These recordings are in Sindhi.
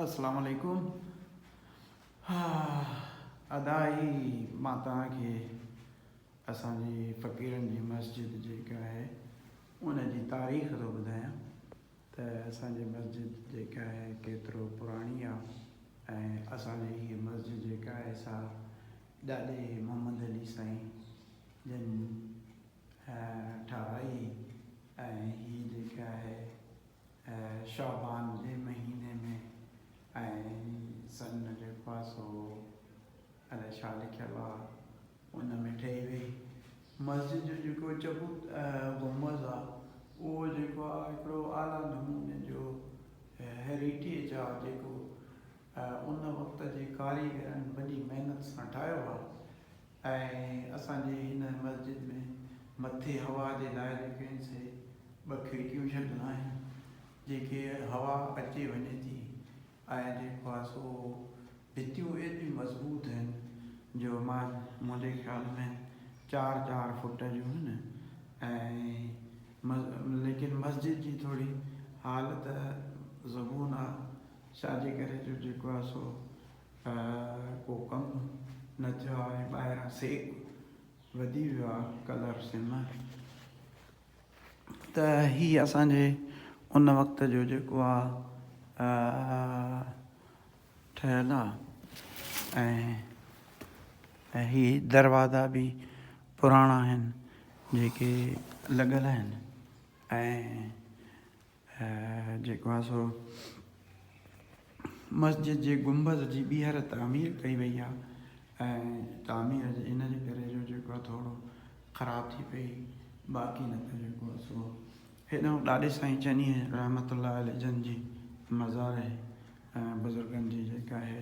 السلام عليڪم ادا اھي مان توھان کي اسان جي فقيرن جي مسجد جيڪا آھي ان جي تاريخ ٿو ٻڌايان ته اسان جي مسجد جيڪا آھي ڪيترو پراڻي آ ۽ اسان جي ھي مسجد جيڪا آھي سا ڏاڏي محمد علي سائين جن ٺاھرائي ۽ ھي جيڪا آھي شعبان جي مهيني ۾ ۽ سن جي خواص هو الائي ڇا لکيل آ ان ۾ ٺهي وئي مسجد جو جيڪو چبوت گنبذ آ اهو جيڪو آ هڪڙو اعليٰ نموني جو هيريٽيج آ جيڪو ان وقت جي ڪاريگرن وڏي محنت سان ٺاهيو آ ۽ اسان جي هن مسجد ۾ مٿي هوا جي لاء جيڪي آهن سي ٻه کڙڪيون ڇڏيل آهن جنهن کي هوا اچي وڃي ٿي ۽ جيڪو آهي سو ڀتيون ايڏيون مضبوط آهن جو منهنجي خيال ۾ چار چار فوٽ جون آهن ۽ ليڪن مسجد جي ٿوري حالت زبون آهي ڇا جي ڪري جو جيڪو آهي سو ته ڪو ڪم نه ٿيو آ ۽ ٻاهران سيڪ وڌي ويو آ ڪلر سم ته هي اسان جي ان وقت جو جيڪو آ ٺهيل آ ۽ هي دروازا به پراڻا آهن جيڪي لڳل آهن ۽ ۽ جيڪو آهي سو مسجد جي گنبذ جي ٻيهر تعمير ڪئي وئي آهي ۽ تعمير جي ان جي ڪري جو جيڪو آهي ٿورو خراب ٿي پئي باقي نه ته جيڪو آهي سو هيڏانهن ڏاڏي سائين چنيء رحمت الله عليه جن جي مزار ۽ بزرگن جي جيڪا آهي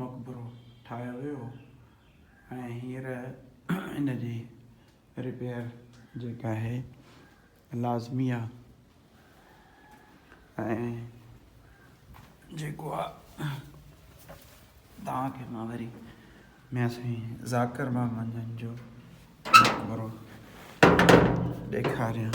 مقبرو ٺاهيو ويو ۽ هينئر ان جي رپيئر جيڪا آهي لازمي آهي ۽ جيڪو آهي توهان کي مان وري ميان سائين ذاڪر محمد جن جو مقبرو ڏيکاريان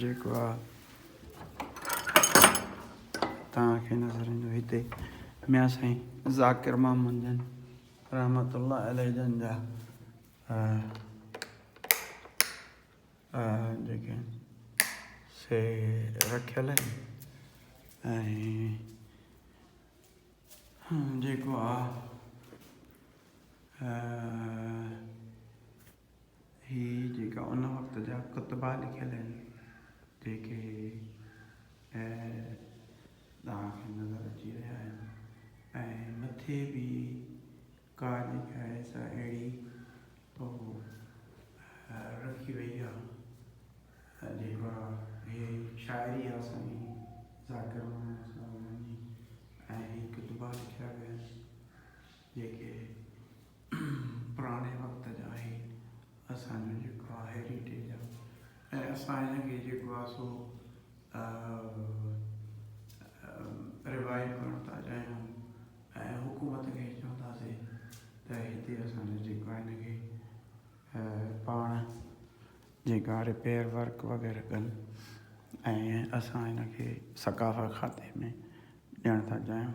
جيڪو آ توهان کي نظر ايندو هتي ميان سائين ذاڪر محمد جن رحمت الله عليه جن جا جيڪي سي رکيل آهن جيڪو آ هي جيڪا ان وقت جا ڪتبا لکيل آهن، جيڪي توهان کي نظر اچي رهيا آهن ۽ مٿي به ڪا جيڪا آهي سا اهڙي رکي وئي آهي، جيڪا هي شاعري آهي اسان جي ذاڪر محمد اسلام جي ۽ هي ڪتبا لکيا ويا آهن. جيڪي پراڻي وقت جا آهن اسان جو جيڪو آ هيريٽيج آ ۽ اسان هن کي جيڪو آ سو روايو ڪرڻ ٿا چاهيون ۽ حڪومت کي چونداسين ته هتي اسان جو جيڪو آ هن کي پاڻ جيڪا رپيئر ورڪ وغيره ڪن ۽ اسان هن کي ثقافت کاتي ۾ ڏيڻ ٿا چاهيون